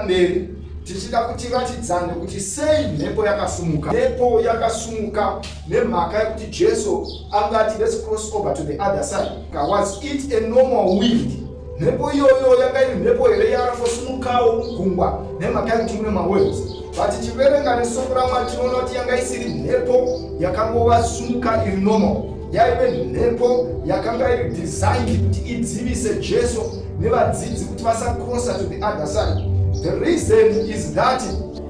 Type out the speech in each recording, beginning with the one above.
mberi tichida kuti vatidzane kuti sei mhepo yakasumuka mhepo yakasumuka nemhaka yekuti jesu angati let's cross over to the other side Was it a normal wind? Mhepo iyoyo yanga iri mhepo here yaarangosimukawo mugungwa nemhaka yekuti mune mawaves but tichiverenga nesoko ramwari tinoona kuti yanga isiri mhepo yakangova sumuka iri normal yaive mhepo yakanga iri designed kuti idzivise jesu nevadzidzi kuti vasakrosa to the other side the reason is that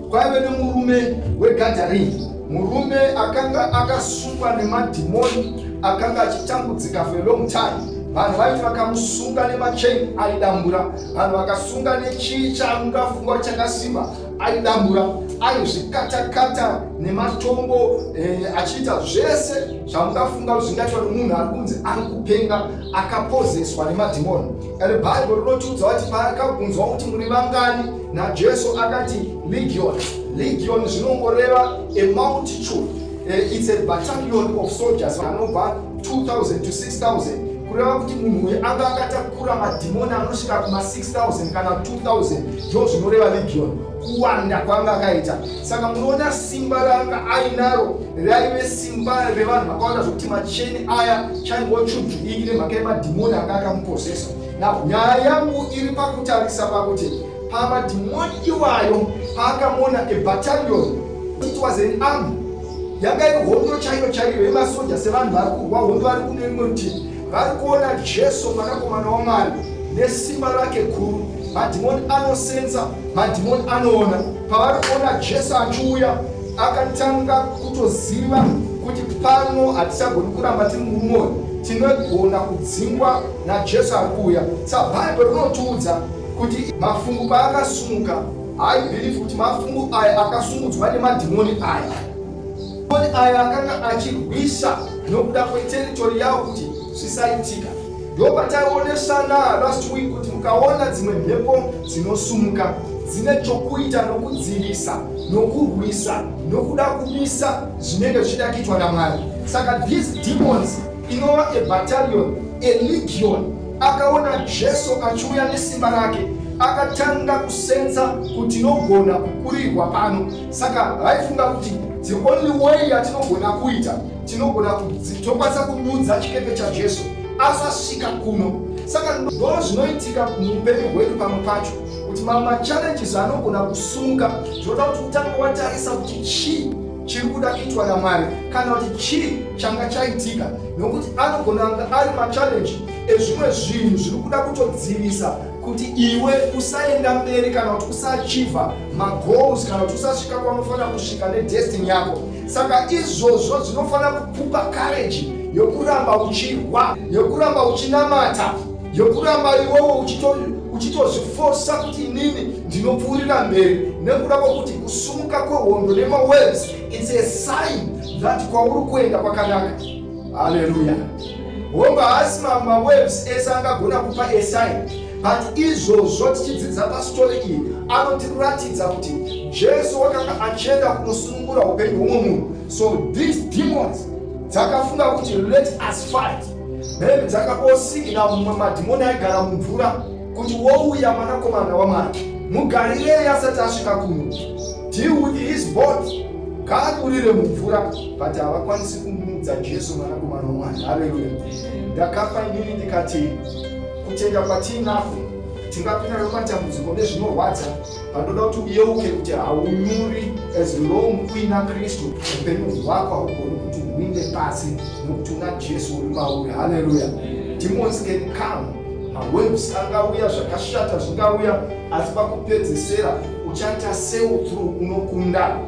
Kwaive nemurume wegadharingi, murume akanga akasungwa nemadhimoni, akanga achitambudzika for a long time vanhu vaiti vakamusunga nemacheni aidambura vanhu vakasunga nechii chaungafungwa chakasimba aidambura aizvikatakata nematombo eh, achiita zvese zvaungafunga zvingaitwa nemunhu ari kunzi ari kupenga akapozeswa nemadhimoni Kare Bible rinotiudza kuti paakabvunzwa kuti muri vangani naJesu akati legion. Legion zvinongoreva a multitude. Uh, it's a battalion of soldiers anobva 2000 to 6000 kureva kuti munhu uyu anga akatakura madhimoni anosvika kuma 6000 kana 2000 ndo zvinoreva legion kuwanda kwanga akaita saka munoona simba raanga ainaro raive simba revanhu vakawanda zvokuti macheni aya chaingochudhudiki nemhaka yemadhimoni anga akamuposesa now nyaya yangu iri pakutarisa pakuti pamadhimoni iwayo paakamuona ebatalion it was an army yanga iri hondo chaiyo chaiyo yemasoja sevanhu vari kurwa hondo vari kune rimwe rutivi Vari kuona Jesu mwanakomana waMwari nesimba rake guru. Madhimoni anosenza, madhimoni anoona. Pavari kuona Jesu achiuya, akatanga kutoziva kuti pano hatichagoni kuramba tiri murume uyu, tinogona kudzingwa naJesu ari kuuya. Sa Bhaibheri rinotiudza kuti mafungu paakasumuka, haibhirifi kuti mafungu aya akasungudzwa nemadhimoni aya. Mangoni aya akanga achirwisa nokuda kweteritori yawo kuti zvisaitika. Ndopataionesana last week kuti mukaona dzimwe mhepo dzinosumuka dzine chokuita nokudzivisa nokurwisa nokuda kumisa zvinenge zvichida kuitwa namwari saka these demons inova a battalion a legion akaona jesu achiuya nesimba rake akatanga kusenza kuti nogona kukurirwa pano saka vaifunga kuti the only way yatinogona kuita tinogona tokwanisa kududza chikepe chajesu asasvika kuno saka ndoo zvinoitika muupenyu hwedu pamwe pacho kuti mamwe machallenges anogona kusunga zvinoda kuti utange watarisa kuti chii chiri kuda kuitwa namwari kana kuti chii changa chaitika nokuti anogona anga ari machallenji ezvimwe zvinhu zviri kuda kutodzivisa kuti iwe usaenda mberi kana kuti usaachiva magoals kana kuti usasvika kwaunofanira kusvika nedestiny yako saka izvozvo zvinofanira kukupa kareji yokuramba uchirwa yokuramba uchinamata yokuramba iwowo uchitozvifosa kuti inini ndinopfuurira mberi nekuda kwokuti kusumuka kwehondo nemawaves its a sign that kwauri kuenda kwakanaka Haleluya. Hongu haasi mawaves ese angagona kupa esign but izvozvo tichidzidza pastori iyi anotiratidza kuti jesu wakanga achienda kunosunungura upenyu hwumwe munhu so these demons dzakafunga kuti let us fight maybe dzakaosigina mumwe madhimoni aigara mumvura kuti wouya mwanakomana wamwari mugarireyi asati asvika kuno deal with his body ngaadurire mumvura but havakwanisi kumudza Jesu mwanakomana waMwari. Haleluya! Ndakapa inini ndikati kutenda kwatiinako tingapinda nematambudziko nezvinorwadza panoda kuti uyeuke kuti haunyuri as long uina kristu upenyu hwako haugoni kuti uinde pasi nokuti una jesu uri mauri haleluya demons can come mawaves angauya zvakashata zvingauya asi pakupedzesera uchaita seutru unokunda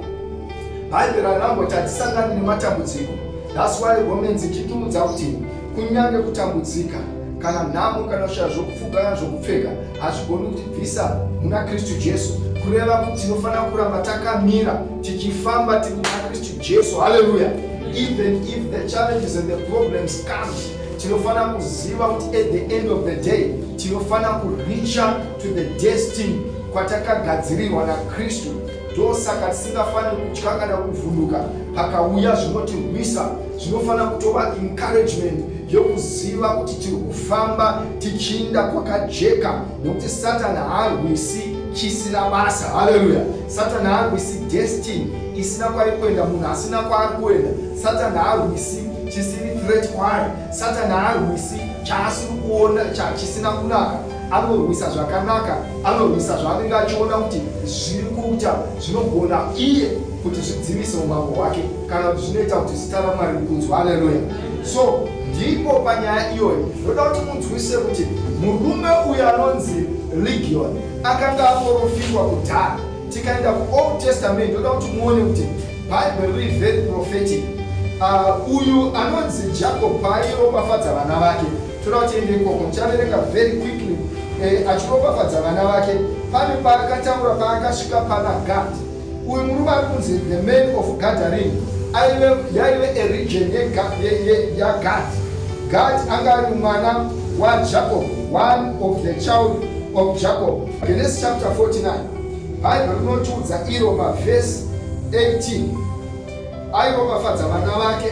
Bhaibheri ranamboti hatisangani nematambudziko. That's why Romans ichitiudza kuti kunyange kutambudzika kana nhamo kana kushaya zvokupfuga kana zvokupfeka hazvigoni kutibvisa muna kristu jesu kureva kuti tinofanira kuramba takamira tichifamba tiri muna kristu jesu halleluya even if the challenges and the problems come tinofanira kuziva kuti at the end of the day tinofanira kuricha to the destiny kwatakagadzirirwa nakristu ndosaka tisingafaniri kutya kana kuvhunduka pakauya zvinotirwisa zvinofanira kutova encouragement yokuziva kuti tiri kufamba tichinda kwakajeka nokuti satani haarwisi chisina basa haleluya satani haarwisi destiny isina kwaari kuenda munhu asina kwaari kuenda satani haarwisi chisiri threat kwaari satani haarwisi chaasiri kuona chisina kunaka anorwisa zvakanaka anorwisa zvaanenge achiona kuti zviri kuita zvinogona iye kuti zvidzimise umambo hwake kana kuti zvinoita kuti zita ramwari rikunzwa aleluya so ndipo panyaya iyoyi ndoda kuti munzwise kuti murume uyu anonzi legion akanga aporofitwa kudhara tikaenda kuold testament ndoda kuti muone kuti bible riri very prophetic uh, uyu anonzi jacob paairopafadza vana vake toda kuti ende ikoko muchaverenga very quickly eh, achiropafadza vana vake pane paakataura paakasvika pana gad uyu murume ari kunzi the man of gathering aive yaive eregion yagad gad anga ari mwana wajacob one of the child of jacob genesis chapter 49 bhaibheri rinotiudza iro pavhesi 18 airopafadza vana vake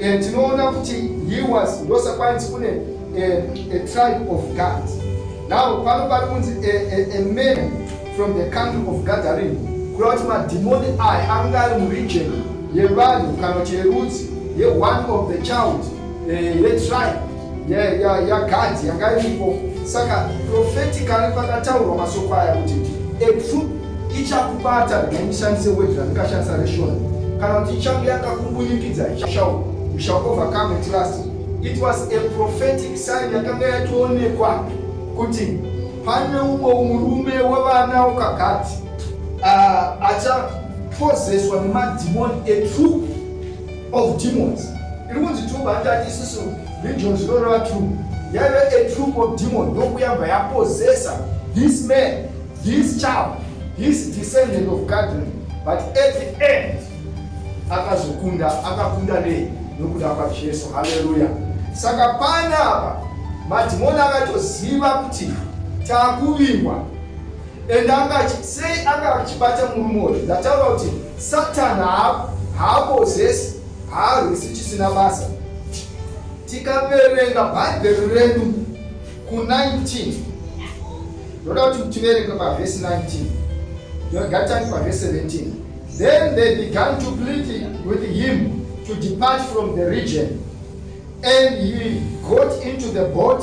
Eh, tinoona kuti he was ndosakwanzi kune eh, a tribe of God. Now pano pari kunzi eh, a man from the country of Gathering kureva kuti madhimoni aya ange ari muregion yevanhu kana kuti yerudzi ye one of the child yetribe yagadhi yanga iripo saka profetically pakataurwa masoko aya kuti etrup ichakubata ndaimishandise word randikashandisa reshona kana kuti ichange yakakumbunyikidza ichashau shall overcome at last it was a prophetic sign yakanga yatoonekwa kuti pane umwe murume wevana ukagati uh, ah, achapozeswa nemadhimoni etrup of demons iri kunzi troop hatati isusu region zvinoreva troop yaive a troop of demon yokuyamba yapozesa this man this child this descendant of garden but at the end akazokunda akakunda nei nokuda kwajesu haleluya saka panapa madhimoni akatoziva kuti takuvingwa and anga sei anga achibata murume uyu ndataura kuti satan haapozesi haarwisi chisina basa tikaverenga bhaibheri redu ku19 ndoda kuti tiverenge pavhesi 19 ndogatani pavhesi 17 then they began to plead with him to depart from the region and he got into the boat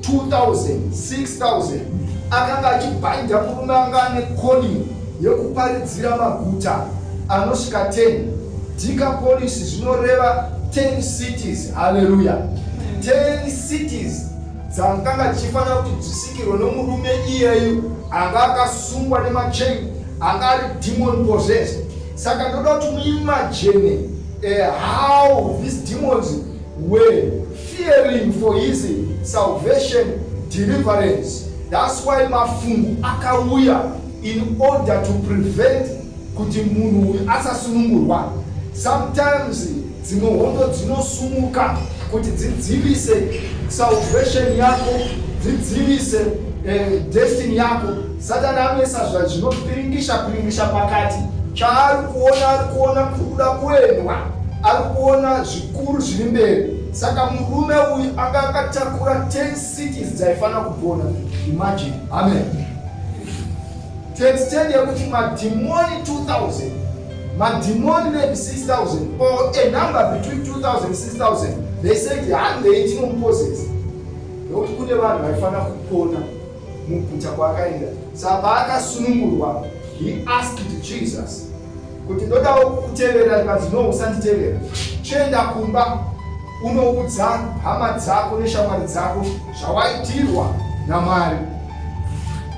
2000 6000 akanga achibhaidha murume anga ane calling yekuparidzira maguta anosvika 10 decapolis zvinoreva 10 cities haleluya 10 cities dzakanga dzichifanira kuti dzisikirwe nomurume iyeyu anga akasungwa nemachain anga ari demon possessed saka ndoda kuti muimajene uh, eh, how these demons were Fearing for his salvation deliverance that's why mafungu akauya in order to prevent kuti munhu uyu asasunungurwa sometimes dzimwe hondo dzinosumuka kuti dzidzivise salvation yako dzidzivise eh, destiny yako satani anoisa zvazvinopiringisha piringisha pakati chaari kuona ari kuona kuda kuendwa ari kuona Zvikuru zviri mberi. Saka murume uyu anga akatakura 10 cities dzaifanira kupona. Imagine. Amen. To extend yekuti madhimoni 2000 madhimoni maybe 6000 or a number between 2000 and 6000 they said handei tinomupossess nokuti kune vanhu vaifanira kupona muguta kwaakaenda saka paakasunungurwa he asked jesus kuti ndodawo kutevera ndikati no usanditevera chienda kumba unoudza hama dzako neshamwari dzako zvawaitirwa namwari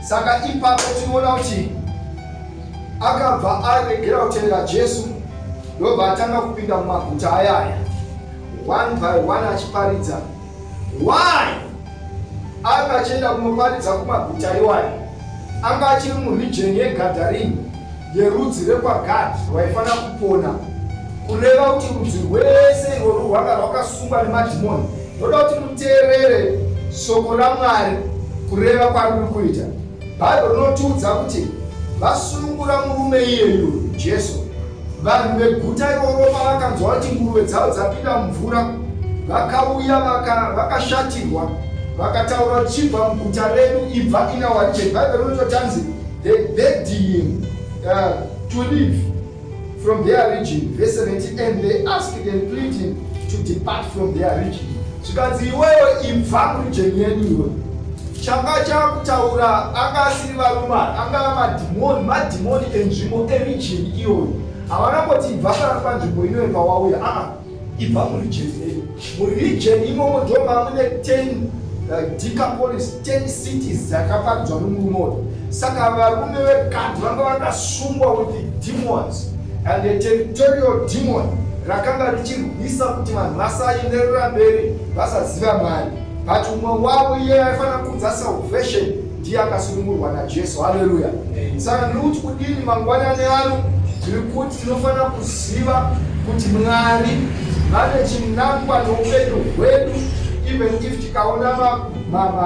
saka ipapo tinoona kuti akabva aregera kutevera jesu ndobva atanga kupinda mumaguta ayaya one by one achiparidza why Anga achienda kunoparidza kumaguta iwayo. Anga achiri murijeni yeGadharini yerudzi rekwaGadhi rwaifanira kupona, kureva kuti rudzi rwese irworwo rwanga rwakasungwa nemadhimoni. Ndoda kuti muteerere shoko raMwari kureva kwaruri kuita. Bhaibheri rinotiudza kuti vasunungura murume iyeyu Jesu. Vanhu veguta iroro pavakanzwa kuti nguruve dzavo dzapinda mumvura, vakauya vakashatirwa vaka vakataura chibva muguta redu ibva inawaje bhaibheri rinototanzi the bedding uh, to live from their region verse 17 and they asked and plead him to depart from their region zvikanzi iwewe ibva murijeni yenyu iwe changa chakutaura anga asiri varume anga madhimoni madhimoni enzvimbo erijeni iyoyo havana kuti ibva kana panzvimbo inoyo pawauya aa Ibva muri jeni muri region imomo ndoma mune 10 uh, decapolis 10 cities dzakaparidzwa nomurume uyu saka varume vekadhi vanga vakasungwa with the demons and the territorial demon rakanga richirwisa kuti vanhu vasaenderera mberi vasaziva mwari but umwe wavo iye aifanira kuudza salvation ndiye akasunungurwa najesu haleluya saka ndiri kuti kudini mangwanani ano tiri kuti tinofanira kuziva kuti mwari vane chinangwa noupenyu hwedu even if tikaona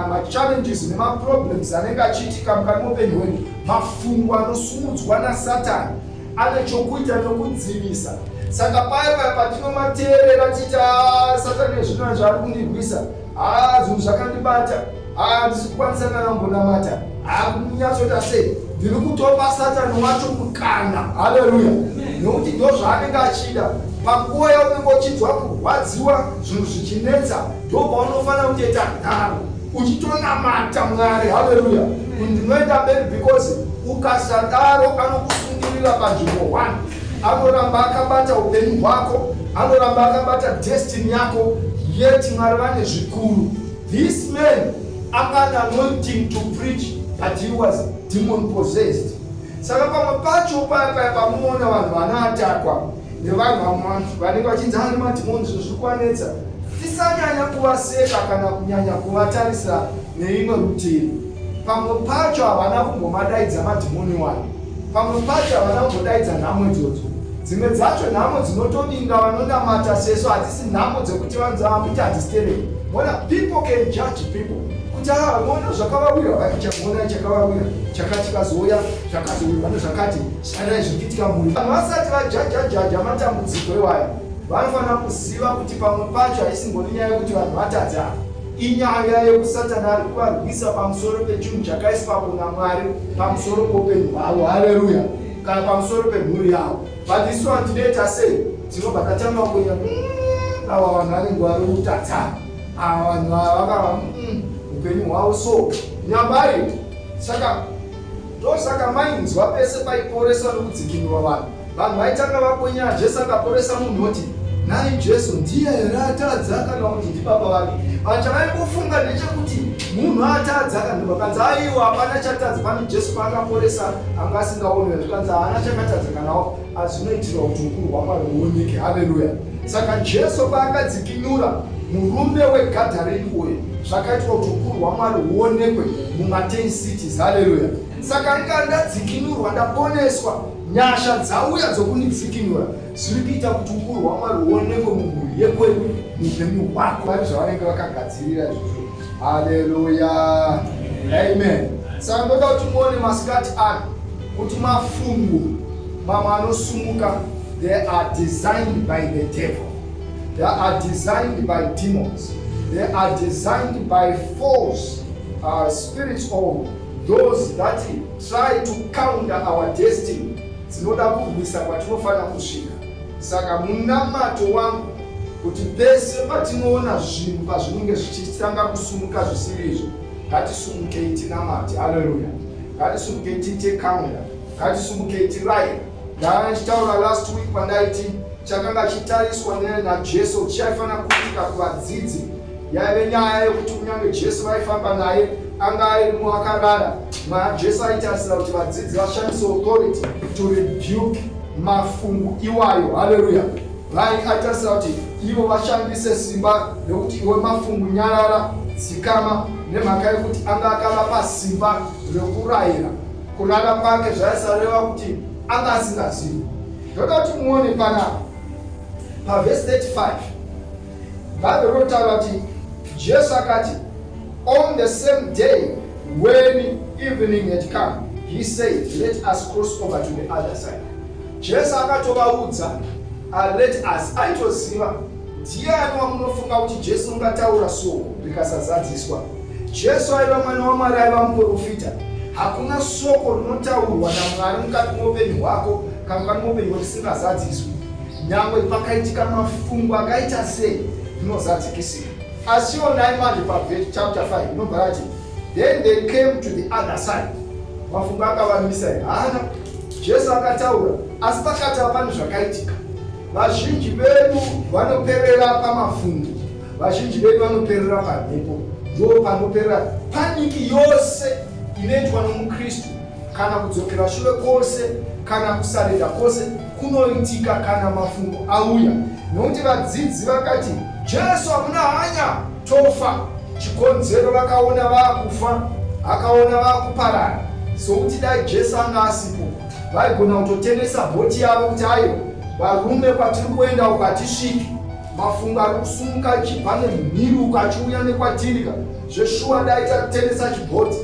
machallenges nemaproblems anenge achiitika mukati moupenyu hwedu mafungo anosumudzwa nasatani ane chokuita nokudzivisa saka paye paya patinomateerera tiita ah, satani ezvinona zvaari kundirwisa haa ah, zvinhu zvakandibata handisi kukwanisa kana kumbonamata akunyatsota sei ndiri kutopa satani wacho mukana haleluya nokuti ndo zvaanenge achida panguva yaunenge uchinzwa kurwadziwa zvinhu zvichinetsa ndo paunofanira kutoita nharo uchitonamata mwari haleluya ndinoenda mberi because ukasadaro anokusungirira panzvimbo one anoramba akabata upenyu hwako anoramba akabata destini yako yeti mwari vane zvikuru This man anga an anointing to preach but he was demon possessed. Saka pamwe pacho paya paya pamunoona vanhu vanaatakwa nevanhu vamwe vanenge vachinzi ane madhimoni zvinhu zviri kuvanetsa tisanyanya kuvaseka kana kunyanya kuvatarisa neimwe rutivi pamwe pacho havana kumbomadaidza madhimoni wani Pamwe pacho havana kumbodaidza nhamo idzodzo. Dzimwe dzacho nhamo dzinotodinga vanonamata sesu hadzisi nhamo dzekuti vanzi vamuti hadzisiterei. Mona people can judge people kuti haa ah, mona zvakavawira vakichamona chakavawira chakati kazouya zvakazouya zvakati shanai zvirikitika mhuri. Vanhu vasati vajajajaja matambudziko iwaya vanofanira kuziva kuti pamwe pacho haisi ngoni nyaya yekuti vanhu vatadza. Inyaya yoku Satani ari kuvarwisa pamusoro pechinhu chakaiswapo naMwari pamusoro poupenyu hwavo. Haleruya! Kana pamusoro pemhuri yavo. But isu vanhu tinoita sei? Tinobva tatanga kuya mm, ava vanhu vanenge vari kutadza ava vanhu ava vakava mm, upenyu hwavo so nyambari saka Ndosaka mainzwa pese paiporeswa nokudzikinurwa vanhu, vanhu vaitanga vakwenyana Jesu akaporesa munhu oti, Nhai Jesu ndiye here atadza kana kuti ndibaba vake? Vanhu chavaingofunga ndechekuti munhu atadza kana vakanzi aiwa hapana chatadza pane Jesu paakaporesa anga asingaonwe zvikanzi haana chakatadza kanawo Asi unoitirwa kuti ukuru hwaMwari huoneke. Haleluya! Saka Jesu paakadzikinura murume weGadharini uye zvakaitwa kuti ukuru hwaMwari huonekwe mumaten cities. Haleluya! Saka anga ndadzikinurwa, ndaponeswa, nyasha dzauya dzokundidzikinura zviri kuita kuti ukuru hwaMwari huonekwe mumhuri yekwedu, muupenyu hwako. Vari zvavanenge vakagadzirira izvozvo Haleluya. Amen. Saka ndoda kuti muone masikati ano kuti mafungu mamwe anosumuka they are designed by the devil. They are designed by demons. They are designed by false uh, spirits or those that try to counter our destiny. Dzinoda kurwisa kwatinofanira kusvika. Saka munamato wangu kuti pese patinoona zvinhu pazvinenge zvichitanga kusumuka zvisiri izvo ngatisumukei tinamati haleluya ngatisumukei tiite kamera ngatisumukei tiraira ndanga ndichitaura last week pandaiti chakanga chitariswa najesu kuti chaifanira kuitika kuvadzidzi yaive nyaya yekuti kunyange jesu vaifamba naye anga airimo akarara jesu aitarisira kuti vadzidzi vashandise authority to rebuke mafungu iwayo haleluya Mai atarisa kuti ivo vashandise simba rekuti iwe mafungu nyarara dzikama nemhaka yekuti anga akavapa simba rekurayira kurara kwake zvaisareva kuti anga asingazivi ndoda kuti muone panapa pavhesi 35 bhaibheri rotaura kuti jesu akati on the same day when evening had come he said let us cross over to the other side Jesu akatovaudza uh, let us aitoziva ndiani wamunofunga kuti Jesu ungataura soko rikasazadziswa. Jesu aiva mwana waMwari aiva muprofita. Hakuna soko rinotaurwa naMwari mukati moupenyu hwako kana mukati moupenyu hwako risingazadziswi. Nyangwe pakaitika mafungo akaita sei rinozadzikisika. Asi onai manje pavhesi chapter 5 inobva yati then they came to the other side. Mafungo akavamisa haana Jesu akataura, asi pakati hapana zvakaitika. Vazhinji vedu vanoperera pamafungo, vazhinji vedu vanoperera pamhepo, ndoo panoperera paniki yose inoitwa nomuKristu, kana kudzokera shure kwose, kana kusareda kwose kunoitika kana mafungo auya, nokuti vadzidzi vakati, Jesu hamuna hanya. tofa chikonzero vakaona vakufa akaona vakuparana sokuti dai jesu anga asipo vaigona kutotengesa bhoti yavo kuti ayo varume kwatiri kuenda uko hatisviki mafungo ari kusumuka achibva nemhiruko achiuya nekwatirika zveshuwa dai tatengesa chibhoti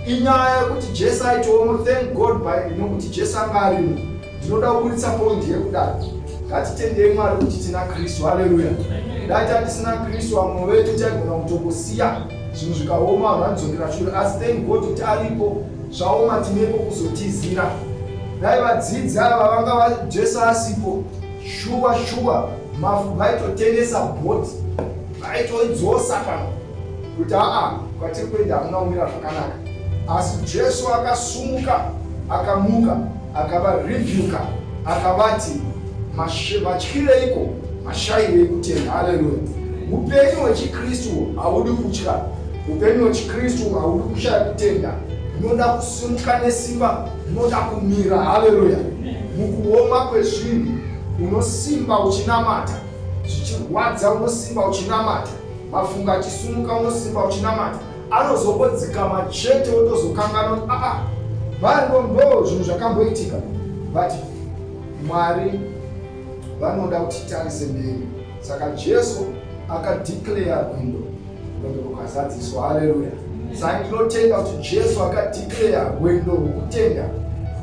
inyaya yekuti jesu aitoomo thank god by nokuti jesu anga arimo ndinoda kuburitsa pondi yekudaro ngatitendei mwari kuti tina kristu haleluya dai tatisina kristu vamwe vedu taigona kutongosiya zvinhu zvikaoma vanhu vanodzokera shure asi thank god kuti aripo zvaoma tinepo kuzotizira dai vadzidzi ava vanga vajesu asipo shuwa shuwa mafu vaitotengesa bhoti vaitoidzosa pano kuti aa kwatiri kuenda hamuna kumira zvakanaka asi jesu akasumuka akamuka akavarebuka akavati vatyireiko mashayirei kutenda haleluya upenyu hwechikristu haudi kutya upenyu hwechikristu haudi kushaya kutenda unoda kusimuka nesimba unoda kumira haleluya mukuoma kwezvinhu unosimba uchinamata zvichirwadza unosimba uchinamata mafunga achisumuka unosimba uchinamata anozongodzikama chete wotozokanganwa aa ah, variko ah, ndo zvinhu zvakamboitika but mwari vanoda kuti tarise mberi saka jesu akadeclare rwindo rwendo rukazadziswa haleluya saka ndinotenda kuti jesu akadeclare rwendo rwokutenda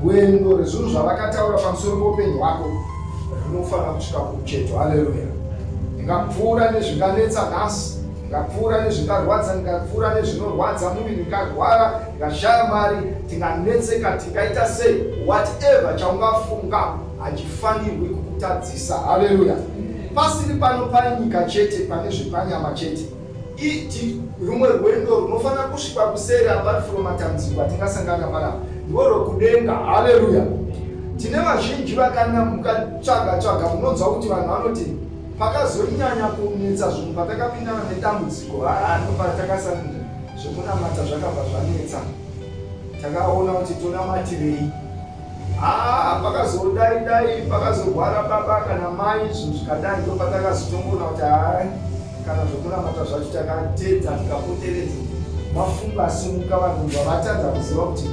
rwendo rezvinhu zvavakataura pamusoro poupenyu hwako Rinofanira kusvika kumucheto. Haleluya! Ndingapfuura nezvinganetsa nhasi, ndingapfuura nezvingarwadza, ndingapfuura nezvinorwadza muviri, ndingarwara, ndingashaya mari, ndinganetseka, ndingaita sei? Whatever chaungafunga hachifanirwi kukutadzisa. Haleluya! Pasiri pano panyika chete, pane zvepanyama chete. iti rumwe rwendo runofanira kusvika kuseri apart from matambudziko atingasangana marapa ndiwo rwekudenga haleluya tine vazhinji vakana mukatsvaga tsvaga munonzwa kuti vanhu vanoti pakazonyanya kunetsa zvinhu patakapindana nedambudziko haanopatakasanira zvekunamata zvakabva zvanetsa takaona kuti tonamatirei Haa pakazodai dai pakazorwara baba kana mai izvo zvikadai ndo patakazotongoona kuti hai kana zvokunamata zvacho takatedza tikapoteredza mafungo asimuka vanhu vavatadza kuziva kuti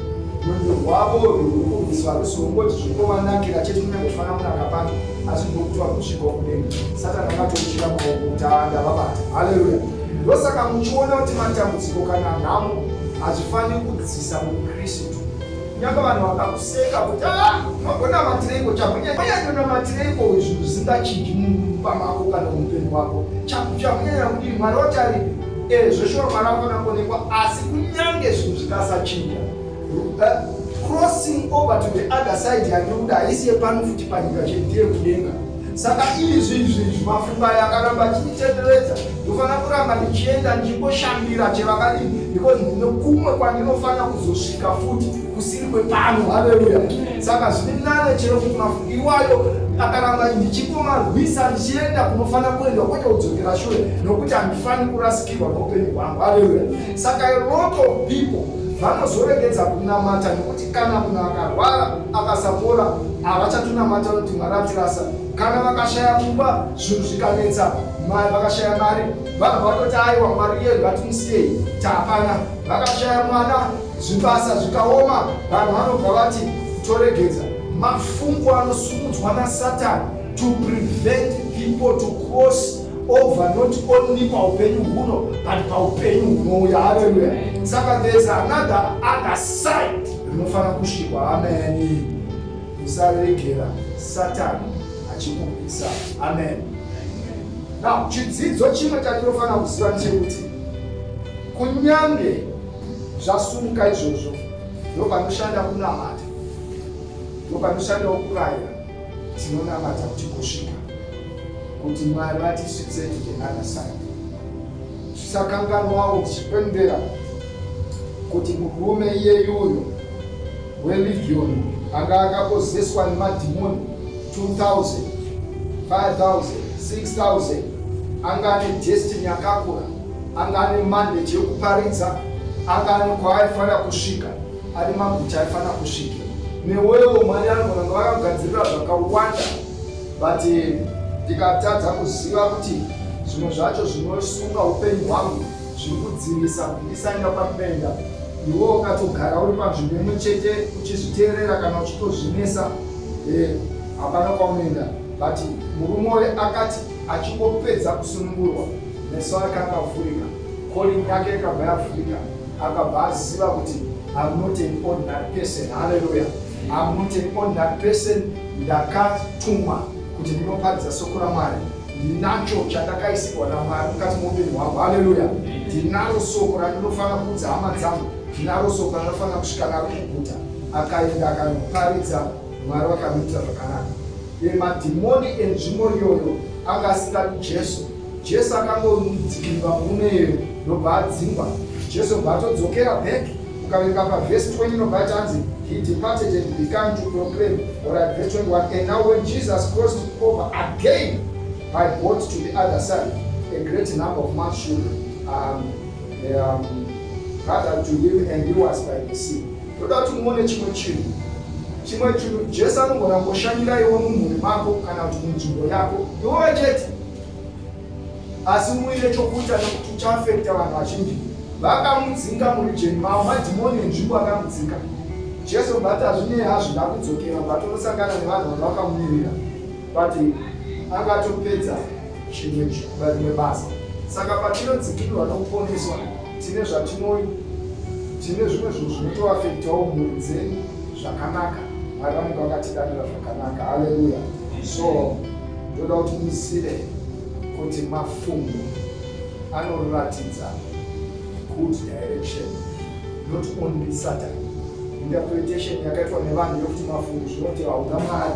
rwendo rwavo rwekukumbiswa rusongoti zvinovanakira chete kunyange kufanira kunaka pano asi ndokutiwa kusvika kudenga satani akatochira maoko kuti andavabata haleluya ndosaka muchiona kuti matambudziko kana nhamo hazvifaniri kudzisa mukristu Nyaka vanhu vakakuseka kuti ah, magona matireko chakunyanyanona matireko izvi zvisingachiji mumba mako kana muupenyu wako chakunyanya kudii mwari wacharipi e eh, zveshuwa mwari akona kuonekwa asi kunyange zvinhu zvikasachinja eh, crossing over to the other side yandikuda haisi yepano futi panyika chete yekudenga Saka ini zvinhu zvinhu mafunga yakaramba achinditenderedza ndofanira kuramba ndichienda ndichingoshambira chevakadini because ndine kumwe kwandinofanira kuzosvika futi kusiri kwepano haleluya saka zviri nane chero kuti mafunga iwayo akaramba ndichikomarwisa ndichienda kunofanira kuenda kwete kudzokera shure nokuti handifani kurasikirwa noupenyu hwangu haleluya saka a lot of people vanozoregedza kunamata nokuti Kana munhu akarwara akasapora, havachatunamata kuti Mwari atirasa. Kana vakashaya kumba, zvinhu zvikanetsa, mari vakashaya mari, vanhu vatoti aiwa Mwari iye ngatimusiyei, tapana. Vakashaya mwana, zvibasa zvikaoma, vanhu vanobva vati toregedza. Mafungu anosumudzwa naSatani to prevent people to cross over not only paupenyu huno but paupenyu hunouya haleluya saka there's another other side rinofanira kusvikwa ameni usaregera satani achikupisa amen now chidzidzo chimwe chatinofanira kuziva ndechekuti kunyange zvasumuka izvozvo ndopanoshanda kunamata ndopanoshandawo kurayira Tinonamata kuti kusvika kuti Mwari vatisvitse to the other side. Tisakanganwawo tichipembera kuti murume iyeyuyo weLigioni anga akakozeswa nemadhimoni 2000 5000 6000 anga ane destiny yakakura anga ane mandate yekuparidza anga ane kwaaifanira kusvika ari maguta aifanira kusvika newewo mwari anogona kunge vakagadzirira zvakawanda but eh, ndikatadza kuziva kuti zvimwe zvacho zvinosunga upenyu hwangu zviri kudzivisa kuti ndisaenda kwandinoenda iwe ukatogara uri panzvimbo imwe chete uchizviteerera kana uchitozvinesa eh, hapana kwaunoenda but murume uye akati achingopedza kusunungurwa meso ake akavhurika Calling yake ikabva yafurika akabva aziva kuti I'm not an ordinary person. Hallelujah. I'm not an ordinary person. Ndakatumwa kuti ndinoparidza soko raMwari. Ndinacho chandakaisirwa naMwari mukati moupenyu hwangu. Hallelujah. Ndinaro soko randinofanira kuudza hama dzangu. Ndinaro soko randinofanira kusvika naro kuguta. Akaenda akanoparidza Mwari vakamuita zvakanaka. Madhimoni enzvimbo iyoyo anga asingadi Jesu Jesu akangodzikirwa murume iyeyo ndobva adzingwa. Jesu bva atodzokera back ukaverenga pavhesi 20 inobva yatanzi he departed and began to proclaim or at verse 21 and now when jesus crossed over again by boat to the other side a great number of man should um, um, gather to him and he was by the sea toda kuti muone chimwe chinhu chimwe chinhu jesu anogona ngoshandiraiwo mumhuri mako kana kuti munzvimbo yako iwowe chete asi muine chokuita nekuti uchaafekta vanhu vazhinji vakamudzinga murijeni mavo madhimoni enzvimbo akamudzinga jesu but hazvinei hazvida kudzokera vatonosangana nevanhu vanga vakamumirira but angatopedza chimwe rimwe basa saka patinodzikirwa nokuponeswa tine zvatinoi tine zvimwe zvinhu zvinotoafektawo mhuri dzenyu zvakanaka mwari vanenge vakatidanira zvakanaka haleluya so Ndoda kuti muzive kuti mafungo anoratidza good direction not only satan interpretation yakaitwa nevanhu yokuti mafungo zvinoti hauna mari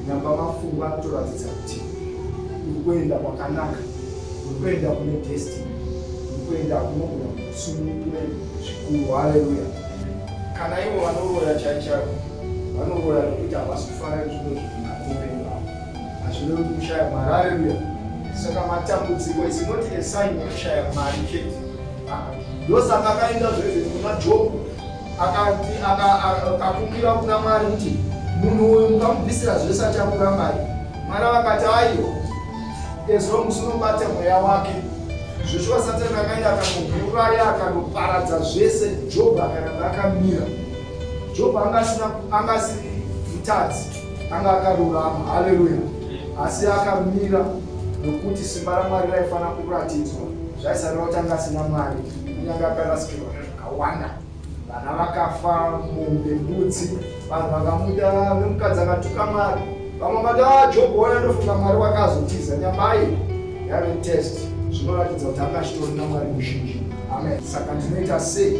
nyamba mafungo anotoratidza kuti uri kuenda kwakanaka uri kuenda kune destiny uri kuenda kunogona kusunungure zvikuru haleluya kana ivo vanoroya chaichavo vanoroya nokuti havasi kufara nezvino zvina hazvirevi kuti kushaya mari areruya saka matambudziko is not a sign yekushaya mari chete ndosaka akaenda zvese kumajob akakumbira kuna mwari kuti munhu uyu mukamubvisira zvese achakura mari mwari vakati aiwa ezvo musi unobata mweya wake zveshuwa satani akaenda akamuuraya akanoparadza zvese job akaramba akamira job anga asina anga asiri mutadzi anga akarurama haleluya asi akamira nokuti simba ramwari raifanira kuratidzwa zvaisareva kuti anga asina mari kunyange akarasikirwa zvakawanda vana vakafa mombe mbudzi vanhu vakamuita vemukadzi akatuka mari vamwe vati ah, jobo waya ndofunga mwari wakazotiza nyambaye yave test zvinoratidza kuti anga achitorina mwari muzhinji amen saka ndinoita sei